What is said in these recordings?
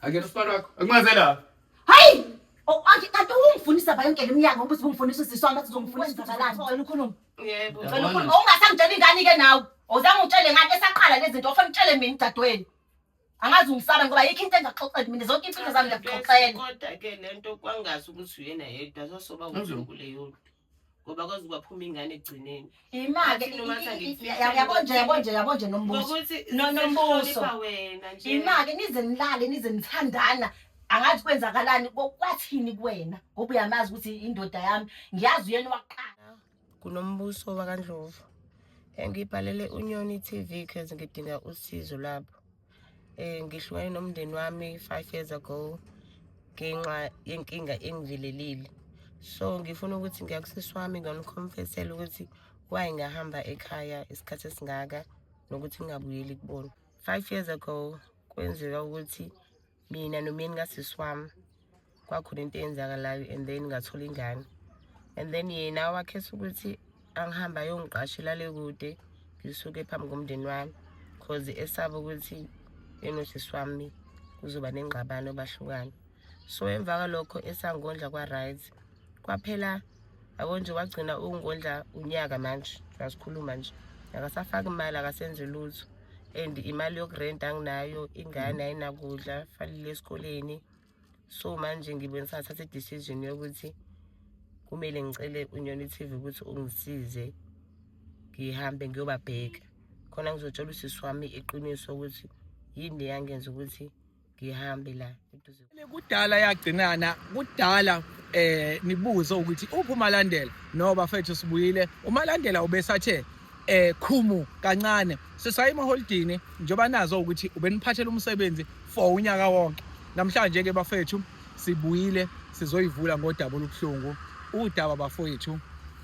Akena usibalo wakho. Akumaze la. Hayi! Oh, ake kanti ungifundisa ba yonke leminyaka ukuthi ungifundisa usisi wami athi uzongifundisa uzabalani. Cela ukhulume. Yebo. Cela ukhulume. Ungasangitshela ingane ke nawe. Awuzange ungitshele ngani esaqala lezi zinto ofuna utshele mina dadweni. Angazi ungisaba ngoba yikho into engaxoxela mina zonke impilo zami ngiyakuxoxela. Kodwa ke lento kwangazi ukuthi uyena yedwa sasoba uzokuleyo. ngoba kwaze kwaphuma ingane ekugcineni imake Athi noma athanda ikufihla yabo nje yabo nje yabo nje nombuso ngokuthi No, no, Mbuso. sihlonipha wena nje imake nize nilale nize nithandana angazi kwenzakalani ko- kwathini kuwena ngoba uyamazi ukuthi indoda yami ngiyazi uyena waqala kunombuso wakandlovu engibhalele unyoni tv cause ngidinga usizo labo Eh ngihlukane nomndeni wami 5 years ago ngenxa yenkinga engivelelile. So ngifuna ukuthi ngiyakusisi wami ngiyoniconfessela ukuthi why ngahamba ekhaya isikhathi esingaka nokuthi ngingabuyeli kubona. 5 years ago kwenzeka ukuthi mina nomyeni kasisi wami kwakhona into eyenzakalayo and then ngathola ingane and then yena wakhetha ukuthi angihamba ayongiqashela le kude ngisuke phambi komndeni wami cause esaba ukuthi enosisi wami kuzoba nengxabano bahlukane so emva kwalokho esangondla kwa-right kwaphela yabo nje wagcina ukungondla unyaka manje uyasikhuluma nje akasafaki imali akasenzi lutho and imali yokurenta anginayo ingane ayinakudla fanele esikoleni so manje ngibona sathatha i-decision yokuthi kumele ngicele unyoni TV ukuthi ungisize ngihambe ngiyobabheka khona ngizotshola usisi wami iqiniso ukuthi yini leyangenza ukuthi ngihambe la eduze kudala yagcinana kudala eh nibuze ukuthi uphi umalandela no bafethu sibuyile umalandela ubesathe eh khumu kancane sisaye emaholidini njengoba nazo ukuthi ubeniphathela umsebenzi for unyaka wonke namhlanje ke bafethu sibuyile sizoyivula ngodaba olubuhlungu udaba bafowethu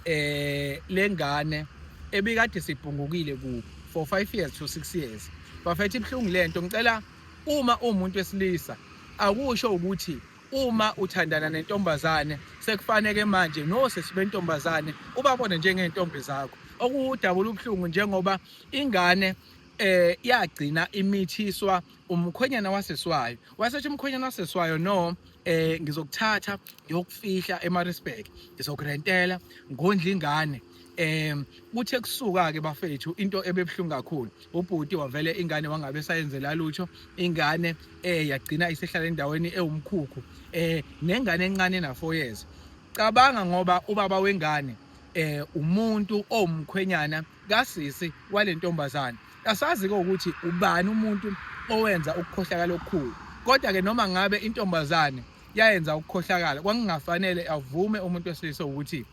eh lengane ebikade sibhungukile ku for 5 years to 6 years bafethu ibhlungu lento ngicela Uma umuntu wesilisa akusho ukuthi uma uthandana nentombazane sekufaneke manje nosisi bentombazane ubabone njengezintombi zakho okuwudabula ubuhlungu njengoba ingane eh yagcina imithiswa umkhwenyana waseswayo wasethi umkhwenyana waseswayo no eh ngizokuthatha ngiyokufihla eMaritzburg ngizokurentela ngondla ingane um kuthe kusuka-ke bafethu into ebebuhlungu kakhulu ubhuti wavele ingane wangabe sayenzela lutho ingane um yagcina isehlala endaweni ewumkhukhu um nengane encane na-four years cabanga ngoba ubaba wengane eh umuntu owumkhwenyana kasisi wale ntombazane kasazi-ke ukuthi ubani umuntu owenza ukukhohlakala okukhulu kodwa-ke noma ngabe intombazane yayenza ukukhohlakala kwakungafanele avume umuntu wesilisa ukuthi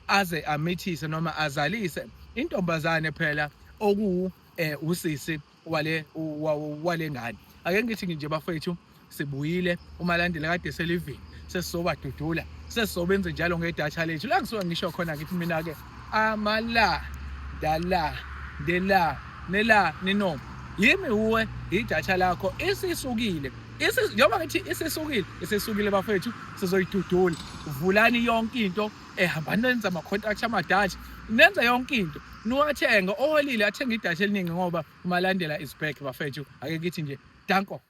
aze amithise noma azalise intombazane phela oku eh usisi wale wale ngane ake ngithi nje bafethu sibuyile umalandela kade selivini sesizobadudula sesizobenza njalo ngedatha lethu la kusuka ngisho khona ngithi mina ke amala dala dela nela nino yimi uwe idatha lakho isisukile njengoba ngithi isisukile isisukile bafethu sizoyidudula vulani yonke into eh hambani nenza ama contract amadashi nenza yonke into niwathenga oholile athenga idashi eliningi ngoba umalandela is back bafethu ake kithi nje danko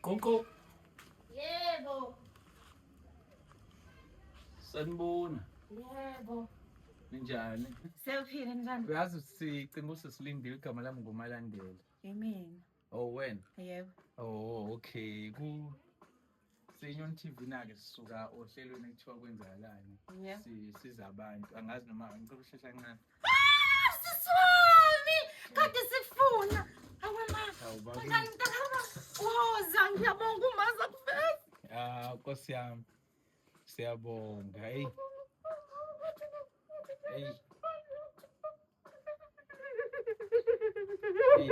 Qonqo. Yebo. Sanibona. Yebo. Ninjani? Sewuphile njani? Uyazi sicimba usesilindile igama lami nguMalandela. Yimina. Oh wena? Yebo. Oh okay. Ku Senyon TV nake sisuka ohlelweni ekuthiwa kwenzakalani Yeah. si- siza abantu angazi noma ngicela ukushesha kancane siswami kade sikufuna awe ma Hawu, babu. kanjani mntakama woza ngiyabonga umaza kuveza Ah, nkosi yami siyabonga eyi eyi eyi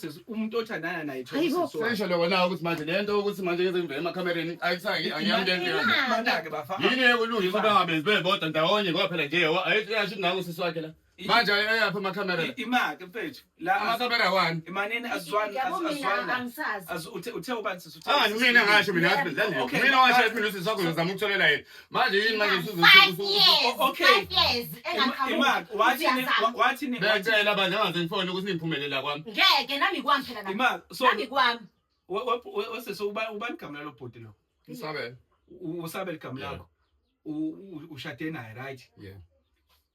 umuntu othandana naye sesho lokho nawe ukuthi manje le nto ukuthi manje ngeze ngivele emakhamereni ayisaki angiyamndenmanake bafa yini ekulungisa uba ngabenzi bebodwa ndawonye ngoba phela nje ayasho ngawo usisi wakhe la manje ayaphi amakhamera la imake mfethu la amakhamera wani imanini azwani azwani uthe uthe ubani sisi uthe angani mina ngasho mina mina washo mina usisi wakho ngizama ukutholela yena manje yini manje usuzo- Five usuzo- years. o- okay. Five years engaqhamuki. Imark, wathini Uyazama. wathini becela bandla ngaze ngifone ukuthi niphumelela kwami Ngeke nami kwami phela nami. Imark, so Nami kwami. we- we- we- wese so uba ubani igama lalo bhuti lo ngisabele U- usabele igama Yeah. lakho U- u- ushade naye right yeah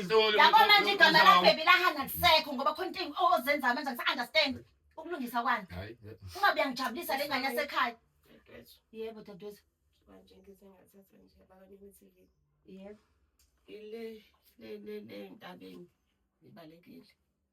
Yabo manje igama labhebi lahana lisekho ngoba khona into ozenza manje ngisa-understand ukulungisa kwani. Ungabe uyangijabulisa le ngane yasekhaya. Yebo dadewethu. Manje ngize ngathatha nje abakanimithile. Yebo. Ile le le le ntabeni ibalekile.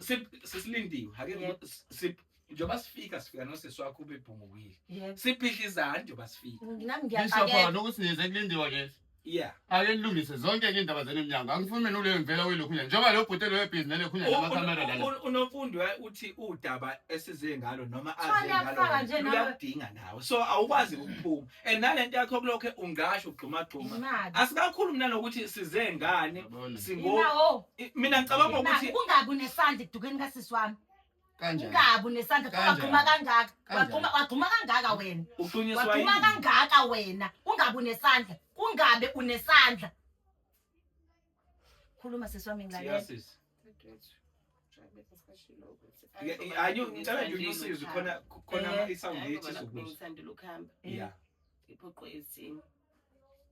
sip sisilindiwe hake Yep. sip njengoba sifika sifika nosisi wakho ubebhungukile Yep. siphihla izandla njengoba sifika Nami Bishop ngiyaqakela. wona ukuthi nize kulindiwe ke. yeah Ake nilungise zonke ke indaba zenu emnyango. Angifuni mina uleyo mvela welokhu nje. Njengoba lo bhuti lo ebhizi nele khunye U- nama camera un- lana. un- unomfundi wa- uthi udaba esize ngalo noma Thwala aze ngalo yafaka nje nawe. uyakudinga nawe so awukwazi ukuphuma and nalento yakho kulokho ungasho ugxumagxuma Imali. asikakhulu mina nokuthi size ngane Yabona. singo Inawo. I- mina ngicabanga ukuthi Kungabi unesandla ekudukeni kasisi wami. kanjani Kungabi unesandla Kanjani? wagxuma kangaka. Kanjani? Wagxuma wagxuma kangaka wena. uxhunyiswa Wagxuma yini kangaka wena. Ungabi unesandla. Kungabe unesandla. Khuluma sisi wami ngilalela. Yes. Ayo ngicela nje unyusize khona khona eh, i-sound ethi sokuthi. Ngithandela ukuhamba. Yeah. Iphoqwe isimo.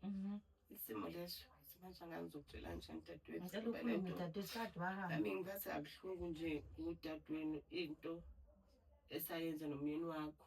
Mhm. Isimo leso manje angangizokutshela nje dadewethu. Ngicela ukhulume dadewethu kade wahamba. Nami ngiphathe kabuhlungu nje ngudadewenu into esayenza nomyeni wakho.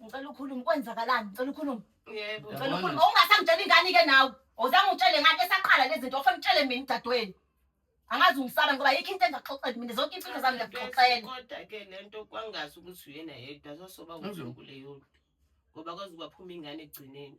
Ngicela ukhulume kwenzakalani? Ngicela ukhulume. Yebo. Ngicela ukhulume. Ungasangitshela ingane ke nawe. Awuzange utshele ngani esaqala lezi zinto ofuna utshele mina udadewenu. Angazi ungisaba ngoba yikho into engaxoxela mina zonke impilo zami ngiyakuxoxela. Kodwa ke lento kwangazi ukuthi uyena yedwa sosoba uzokule yodwa. Ngoba kwazi kwaphuma ingane egcineni.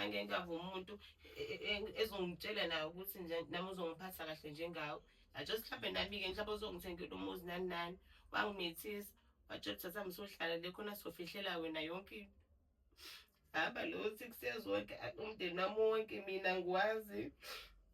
angeke ngave umuntu e, e, e, ezongitshela naye ukuthi nje nami uzongiphatha kahle njengawo ajosi mhlawumbe nami-ke mhlawumbe uzongithengela umuzi nani nani wangimethisa watsho thatha msohlala le khona sizofihlela wena yonke into hamba lo six years wonke umndeni wami wonke mina ngiwazi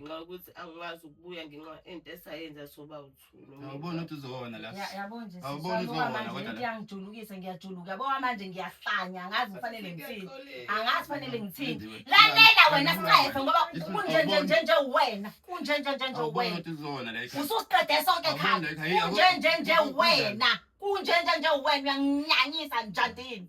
ngenxa yokuthi angikwazi ukubuya ngenxa into esayenza soba uthulu awuboni ukuthi uzona la yabo nje awuboni uzona kodwa ngiyangijulukisa ngiyajuluka yabo manje ngiyahlanya angazi kufanele ngithini angazi kufanele ngithini lalela wena siqefe ngoba kunje nje nje nje wena kunje nje nje nje wena ususiqede sonke ekhaya kunje nje nje wena kunje nje nje wena uyanginyanyisa njandini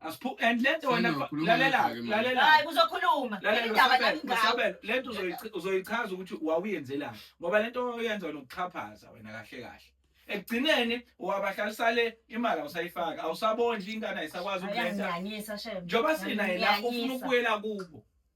Asiphu and lento wena Senokhuluma lalela ngakho-ke manje. lalela hayi kuzokhuluma lalela indaba Masabelo, nami ngawe Masabelo, lento uzoyici- uzoyichaza ukuthi wawuyenzelani ngoba lento oyenza nokuxhaphaza wena kahle kahle ekugcineni wabahlalisisa le imali awusayifaki awusabondli ingane ayisakwazi ukulenda ayangiyanyisa shem njengoba sinaye la ufuna Ngiyanyisa. ukubuyela kubo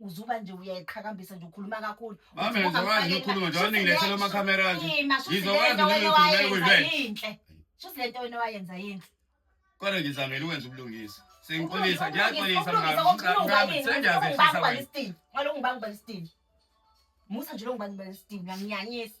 uzuba nje uyayiqhakambisa nje ukhuluma kakhulu Mama ngizokwazi nje ukukhuluma nje waningilethela ama camera nje ngizokwazi nje ukukhuluma ekuyinhle shuthi lento wena wayenza yinhle kodwa ngizamela ukwenza ubulungisa sengixolisa ngiyaxolisa mngani sengiyazehlisa wena ngalo ngibanga ubalisitini musa nje lo ngibanga ubalisitini ngiyanyanyisa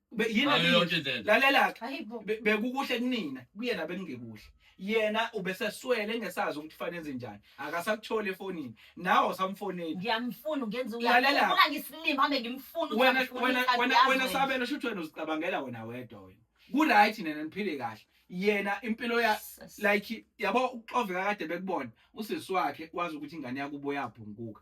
Be- yini Ngayo abili- yonke indlela. lalela-ke Hayi bo. Be- bekukuhle kunina kuyena bekungekuhle yena ubeseswele engesazi ukuthi fanele enze njani akasakutholi efonini nawe awusamfoneli Ngiyamfuna ungenza Lalela. uyakhuluma ngisilima hambe ngimfuna ukuthi wena angifune wena ikhadi wena yazi wena wena. sabelo shuthi wena uzicabangela wena wedwa wena kuright nena niphile kahle yena impilo ya Jesus. like yabo uxoveka kade bekubona usisi wakhe wazi ukuthi ingane yakubo yabhunguka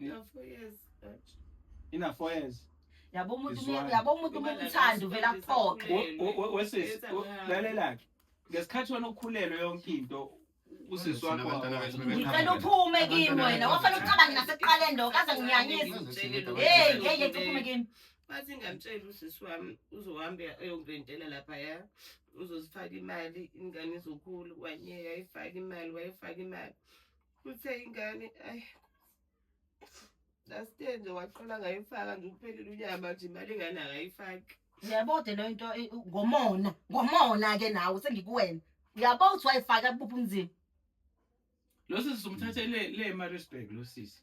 Ina four years. Ouch. Ina four years. Yabo umuntu Izwana. umu- yabo umuntu uma umthanda uvela aphoqe. We- we- we- Wesisi, Yes, we- I'm- lalelake. Ngesikhathi wena ukhulelwe yonke into usisi wakho Thina abantwana bethu bebe- Ngicela uphume kimi wena. Wafana ucabange nasekuqaleni lo kaze nginyanyise. Hey, hey, hey, uphume kimi. Bathi ngamtshela usisi wami uzohamba eyongirentela lapha ya. Uzozifaka imali, ingane izokhula, wanyeka ifaka imali, wayifaka imali. uthe ingane ayi last year nje waqala ngayifaka nje uphelile unyaka manje imali ingane akayifaki yabo de leyo nto eh, ngomona ngomona ke nawe sengikuwena yabo uthi wayifaka kubuphi umzimba lo sisi somthathe le le Maritzburg lo sisi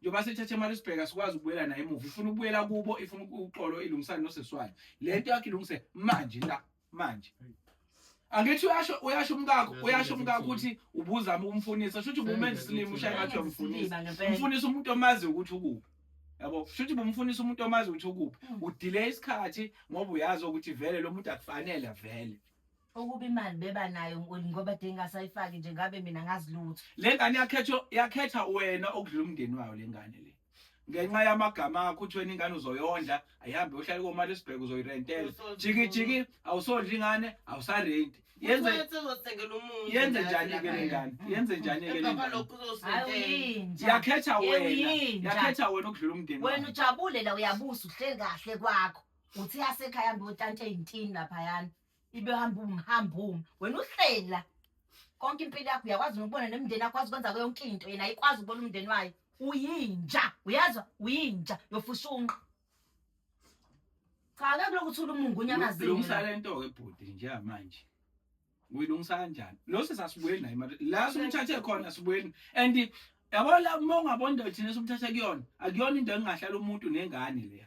njengoba sithathe imali sibheka sikwazi ukubuyela naye emuva ifuna ukubuyela kubo ifuna uxolo ilungisane noseswayo le nto yakhe ilungise manje la manje angithi uyasho uyasho umkakho uyasho umkakho ukuthi ubuzama ukumfunisa shuthi ubumenza isilima ushaya ngathi uyamfunisa umfunisa umuntu omazi ukuthi ukuphi yabo shuthi bumfunisa umuntu omazi ukuthi ukuphi hmm. udelay isikhathi ngoba uyazi ukuthi vele lo muntu akufanele vele ukuba imali beba nayo nkulu ngoba de ngasayifaki nje ngabe mina ngazi lutho le ngane yakhetha yakhetha wena okudlula umndeni wayo le ngane le ngenxa yamagama akho uthi wena ingane uzoyondla ayihambe uhlale komali esibheke uzoyirentela jiki jiki awusondla ingane awusarenti yenze yenze njani ke le ngane yenze njani ke le ngane yakhetha wena yakhetha wena okudlula umndeni wena ujabule la uyabusa uhleli kahle kwakho uthi yasekhaya mbe utante intini lapha yana ibe hamba umhamba uma wena uhleli la konke impilo yakho uyakwazi nokubona nemndeni yakho wazi ukwenza yonke into yena ayikwazi ukubona umndeni wayo uyinja uyezwa uyinja yofushunqa cha ke kulokuthi ulumungu unyamazile Lungisa le nto ke bhuti njengamanje. Uyilungisa kanjani? Lo sesasibuyeni naye manje. La simthathe khona sibuyeni. And yabo la uma ungabona into thina simthathe kuyona. Akuyona into engahlala umuntu nengane leya.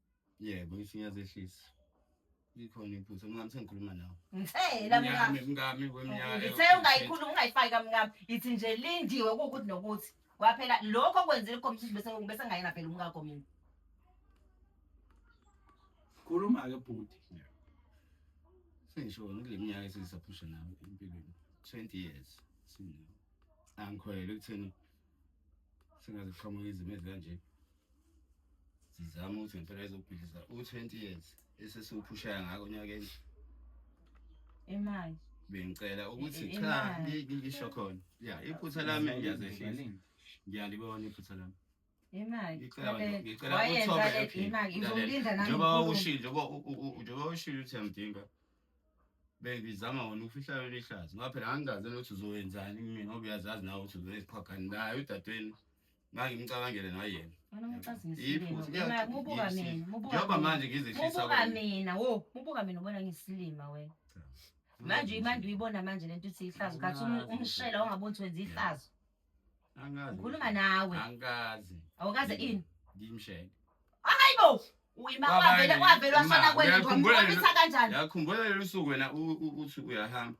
yebo ngisho ngiyazehlisa ikhona iphutha mngami sengikhuluma nawe ngithela mngami mngami kwemnyaka ngithe ungayikhuluma ungayifaki kamngami ithi nje lindiwe kuwukuthi nokuthi kwaphela lokho okwenzile ikhomishini bese bese ngayena phela umkakho mina khuluma ke bhuti sengisho ngile minyaka esisaphusha nawe empilweni 20 years sinawo angikhwele ekutheni singaziqhamuka izimo ezikanje sizama ukuthi ngempela izokubhidliza u-20 years esesiwuphushaya ngako onyakeni imali bengicela ukuthi cha ngisho khona ya iphutha lami ngiyazehlisa ngiyalibona iphutha lami njengoba ushilo njengoba ushilo ukuthi yamdinga Baby zama wona ukufihla yona ihlazo ngoba phela ngangikaze nokuthi uzoyenzani kimi ngoba uyazazi nawe ukuthi uzoyiqhagani naye udadewenu ngangimcabangele nayena njengoba manje ngizehlisa mina wo mubuka mina ubona ngisilima wena manje imanje uyibona manje lento uthi ihlazo kathi um-, umshela ongaboni ukuthi wenza ihlazo Angikaze. Ngikhuluma nawe. Angikaze. Awukaze ini? Ngimsheke. Hayibo. Uyima wavele wavele washona kwenu ngomkhombisa kanjani? Yakhumbula lelo suku wena uthi uyahamba.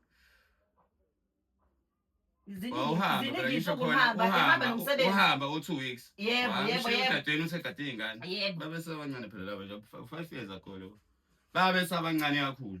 uhamba u-two weeks egadeni usegadini ingane babesebancane phela labo five years ago lo babesabancane kakhulu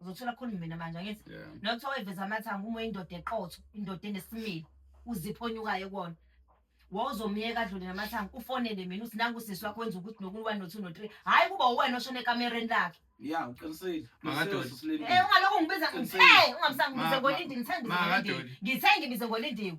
uzothola khona mina manje angithi Yeah. nokuthiwa wayiveza amathanga uma uyindoda eqotho indoda enesimilo uzipho onyukayo kona wawuzomyeka adlule namathanga ufonele mina uthi nangu sisi wakho wenza ukuthi nokuyi-one no-two no-three hhayi kuba uwena oshona ekamereni lakhe ya uqinisile Makadoli. Usebenza usilindile. Eh, ungalokhu ngibiza Qinisile. ngithe ungamsangibize Ma- ngolindi ngithe ngibize ngolindi Makadoli. ngithe ngibize ngolindiwe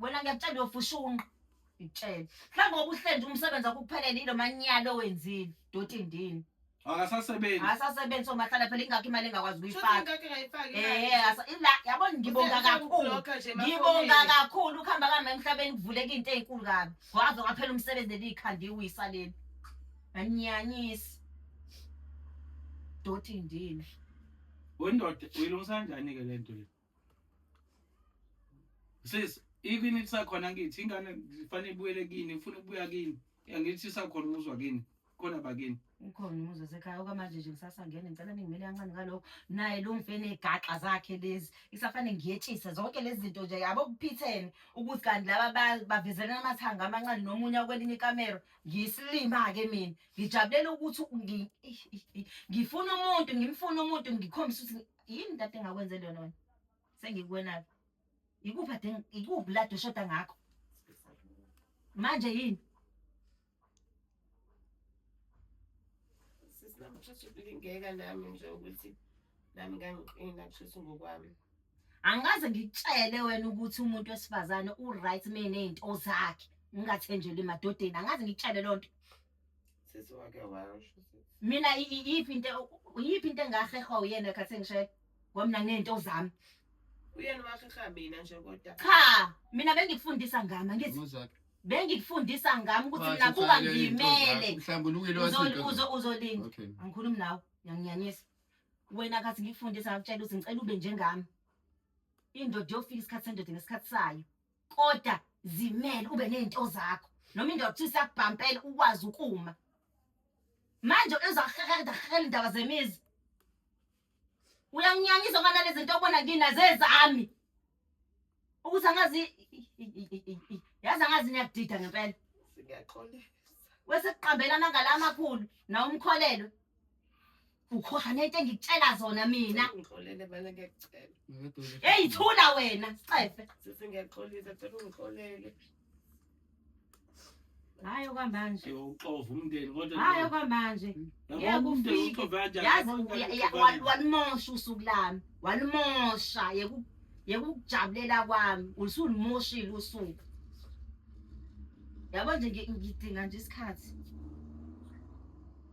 wena ngiyakutshela uyofushunqa ngikutshele mhlawumbe obuhlenje umsebenzi akuphelele yilo manyalo owenzile doti ndini akasasebenzi akasasebenzi so mahlala phela ingakho imali engakwazi ukuyifaka yabo ngibonga kakhulu ngibonga kakhulu ukuhamba kami emhlabeni kuvuleka into ezinkulu kabi waze waphela umsebenzi leliyikhanda iwisa leli anyanyisi doti ndini wendoda uyilungisa kanjani ke lento le sis even isakhona ngithi ingane kufanele ibuyele kini ifuna ukubuya kini angithi isakhona umuzwa kini khona bakini ukhona umuzi wasekhaya okwamanje nje kusasa ngene ngicela ningimele kancane ngalokho naye lo mfene egaxa zakhe lezi isafane ngiyetshisa zonke lezi zinto nje yabo kuphithene ukuthi kanti laba bavezana amathanga amancane nomunye kwelinye ikamera ngiyisilima-ke mina ngijabulela ukuthi ngifuna umuntu ngimfuna umuntu ngikhombisa ukuthi yini ntate engakwenzeli yona wena sengikuwena-ke ikuphi ade ikuphi lade ushoda ngakho manje yini Sisi nami kushuthi kulingeka nami nje ukuthi nami ngangiqina kushuthi ngokwami. angikaze ngikutshele wena ukuthi umuntu wesifazane u-right uma eney'nto zakhe ngingathenjeli emadodeni angikaze ngikutshele loo nto Sisi wake washo sisi. mina i- i- iyiphi into iyiphi into engahehwa uyena ekhathi engishayela ngoba mina nginento zami Uyena waheha mina nje kodwa. cha mina bengikufundisa ngami angithi Uzakhe. bengikufundisa ngami ukuthi mina buka ngimele Mhlambulukile Uzo- wasinto. uzo- uzolinda Okay. angikhulumi nawe ngiyanginyanyisa wena kathi ngikufundisa ngakutshela ukuthi ngicela ube njengami indoda yofika isikhathi sendoda ngesikhathi sayo koda zimele ube nezinto zakho noma indoda uthi sakubhampela ukwazi ukuma manje uzohehela hehela indaba zemizi uyanginyanyisa ngana lezi zinto obona kina zezami ukuthi angazi yazi angazi niyakudida ngempela ngiyaxolisa wesekuqambelana ngala amakhulu na umkholelwe ukhohlwa nento engikutshela zona mina ungixolele mina ngiyacela eyi thula wena cefe sisi ngiyaxolisa cela ungixolele hayi okwamanje uxova umndeni kodwa hayi okwamanje ngeke ufike yazi walimosha usuku lami walimosha yekukujabulela kwami usulimoshile usuku yabo nje ngidinga nje isikhathi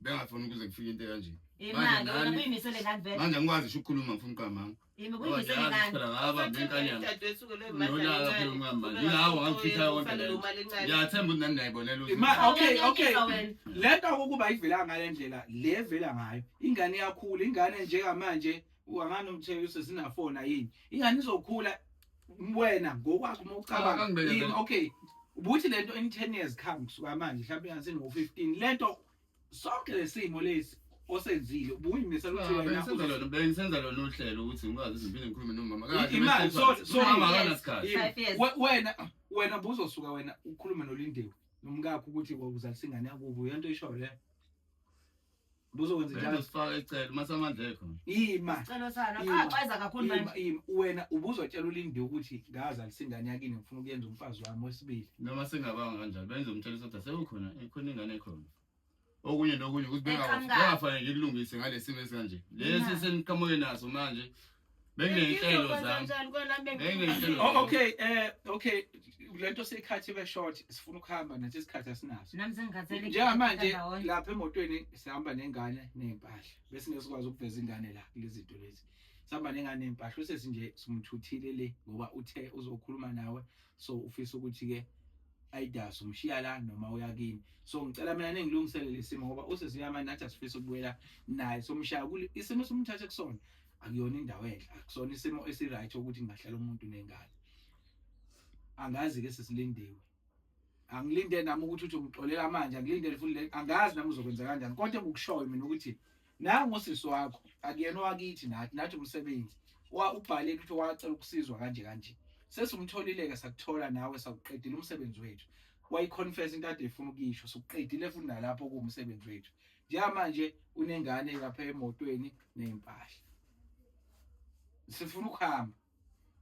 bengafuni ukuze kufike into kanje imake wena kuyimisele ngani vele manje ngikwazi sho ukukhuluma mfuna uqamanga yimi kuyimisele ngani phela ngaba nenkanyana dadwethu ke lona nolaka phela umama yingawo ngifitha yonke le ngiyathemba ukuthi nani nayibonela ukuthi ma okay okay lento ukuba ivela ngale ndlela le vela ngayo ingane yakhula ingane njengamanje uangana umthekisi sinafona yini ingane izokhula wena ngokwakho uma ucabanga yini okay ubuthi lento in 10 years come kusuka manje mhlawumbe ngasini ngo 15 lento sonke lesimo lesi osenzile ubuyimisela ukuthi ah, wena usenza lona bengisenza lona uhlelo ukuthi ngikwazi izimpilo ngikhulume nomama kahle imali so so mama akanasikhathi wena wena buzosuka wena ukhulume nolindewe nomkakho ukuthi wawuzalisa ingane yakubo yento isho le Buzokwenza njalo. Uzosifaka ecela uma samandla ekho. Ima. Celo sana. Axweza kakhulu manje. Ima ima wena ubuzotshela ulindi ukuthi ngaze alisingane yakini ngifuna ukuyenza umfazi wami wesibili. Noma singabanga kanjalo benze umtshela ukuthi asekho ikhona ingane ekhona. Okunye nokunye ukuthi bengafanele ngikulungise ngalesimo esikanje. Lesi seniqhamuke naso manje beney'nhlelo zami oh, okay eh okay lento seyikhathi ibe short sifuna ukuhamba nathi isikhathi asinaso njengamanje lapha emotweni sihamba nengane ney'mpahla bese ngesikwazi ukuveza ingane la kulezi zinto lezi sihamba nengane ney'mpahla usesi nje simthuthile le ngoba uthe uzokhuluma nawe so ufisa ukuthi-ke ayidasi umshiya la noma uya kini so ngicela mina ningilungisele lesimo ngoba usesiyamani nathi asifisa ukubuyela naye somshaya isimo somthathe kusona akuyona indawo enhle akusona isimo esiright ukuthi ngingahlala umuntu nengane angazi ke sesilindiwe angilinde nami ukuthi uthi ungixolela manje angilinde futhi angazi nami uzokwenza kanjani kodwa engikushoyo mina ukuthi nangu usisi wakho akuyena owakithi nathi nathi umsebenzi wa ubhale ukuthi wacela ukusizwa kanje kanje sesumtholileke sakuthola nawe sakuqedile umsebenzi wethu wayiconfess into ade ifuna ukuyisho sokuqedile futhi nalapho kuwumsebenzi wethu njengamanje unengane lapha emotweni ney'mpahla sifuna ukuhamba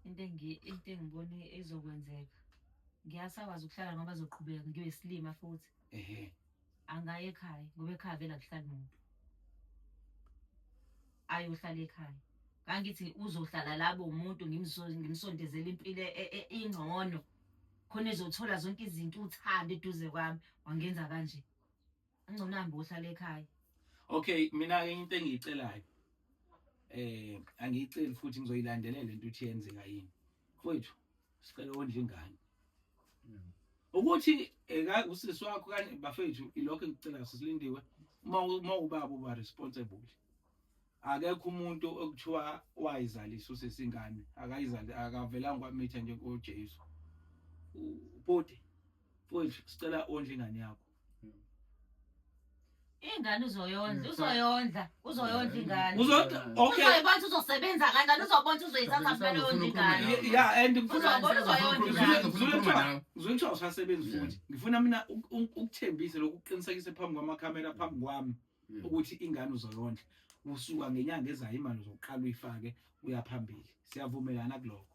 into into engibone ezokwenzeka ngiyasakwazi ukuhlala ngoba zoqhubeka ngibe silima futhi ehe angaye ekhaya ngoba ekhaya vele akuhlali muntu ayohlala ekhaya kangithi uzohlala labo umuntu ngimsondezela impilo e, e, ingcono khona ezothola zonke izinto uthando eduze kwami wangenza kanje Angcono hambe uhlale ekhaya. Okay, mina ke into engiyicelayo. Eh, angiyiceli futhi ngizoyilandelela into uthi yenzeka yini. Mfowethu, sicela ondla ingane. Mm. ukuthi eka usisi wakho kanye bafethu ilokho engicela sisilindiwe uma uma ubaba uba responsible akekho umuntu okuthiwa wayizalisa usisi ingane akayizali akavelanga kwamitha nje kuJesu ubhuti futhi sicela ondle ingane yakho ingane uzoyondla uzoyondla uzoyondla ingane uzodwa okay uzoyibona uzosebenza kanjani uzobona uzoyithatha vele yondla ingane ya and ngifuna uzobona uzoyondla ingane ngifuna ngizothiwa usasebenza futhi ngifuna mina ukuthembise lokuqinisekise phambi kwamakhamera phambi kwami mm. ukuthi ingane uzoyondla usuka ngenyanga ezayo imali uzoqala uyifake uyaphambili siyavumelana kuloko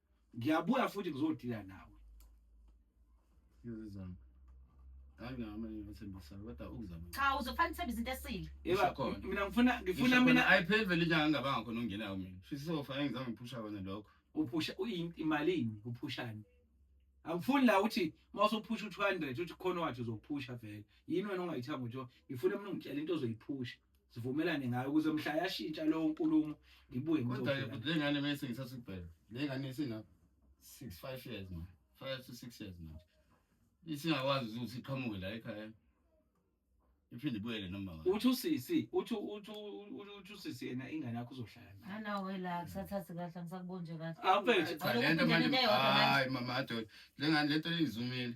ngiyabuya futhi ngizodila nawe ngizizama angama ngithembisa kodwa ukuzama cha uzofanele uthembe izinto esile yeba khona mina ngifuna ngifuna mina ayipheli vele inyanga ngabanga khona ongenayo mina shisa sofa engizama ngiphusha kona lokho uphusha uyimalini uphushani angifuni la uthi uma usuphusha u-200 uthi khona wathi uzophusha vele yini wena ongayithanga ukuthi ngifuna mina ungitshela into ozoyiphusha sivumelane ngayo ukuze mhla yashintsha leyo nkulumo ngibuye kodwa le ngane mese ngithatha ibhele le ngane isina 6 5 years manje 5 to 6 years manje isingakwazi ukuthi iqhamuke la ekhaya iphinde ibuyele noma ngabe uthi usisi uthi uthi uthi usisi yena ingane yakho uzohlala nayo nanawe la kusathathe kahle angisakubonje kahle awuphethe cha lento manje hayi mama adol lengane lento izumile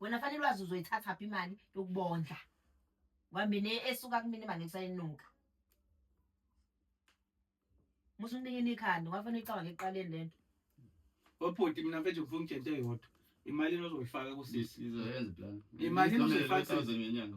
wena fanele ulwazi uzoyithatha phi imali yokubondla wambini esuka kumina imali ekusayinuka musa unikini ikhanda wafanele icaba ngekuqaleni lento obhuti mina mfethu ngifuna ungitshente yodwa imali enozoyifaka kusisi izoyenza plan imali enozoyifaka ngenyanga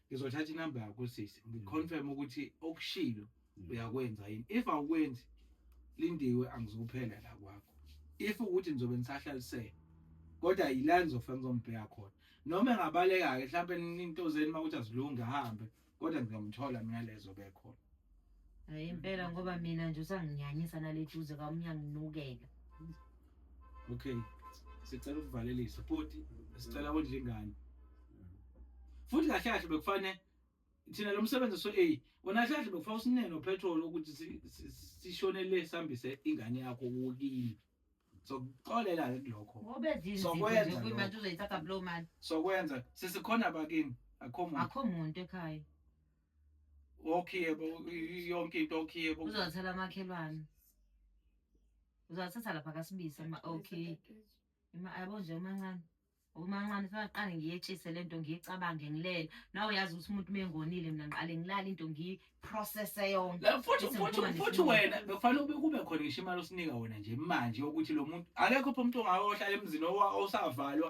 ngizothatha inamba yakho sisi ngiconfirm ukuthi okushilo uyakwenza yini if awukwenzi lindiwe angizophela la kwakho if ukuthi nizobe nisahlalisele kodwa yila nizofika ngizombheka khona noma engabaleka-ke mhlawumpe into zeni uma ukuthi azilungi ahambe kodwa ngizomthola mina lezo bekhona Hayi impela ngoba mina nje usanginyanyisa naleduze ka umyanginukela. Okay. Sicela ukuvalelisa futhi sicela wondle ingane. Futhi kahle kahle bekufanele thina lo msebenzi so a wona kahle kahle bekufanele usinene upetrol ukuthi sishonele sihambise ingane yakho wokini. Sokuxolela ke kulokho. Ngobe zini zokwenza manje uzoyithatha blow man. Sokwenza sisikhona bakini akho muntu. Akho muntu ekhaya. okhiye bo yonke into okhiye bo uzothela amakhelwane uzathatha lapha kasibisa ma okay ima yabo nje umancane umancane faka qale ngiyetshise lento ngiyicabange ngilele nawe uyazi ukuthi umuntu mengonile mina ngiqale ngilale into ngiprocesse yonke la futhi futhi futhi wena bekufanele ube kube khona ngisho imali osinika wena nje manje ukuthi lo muntu akekho pho umuntu ongayohlala emzini osavalwa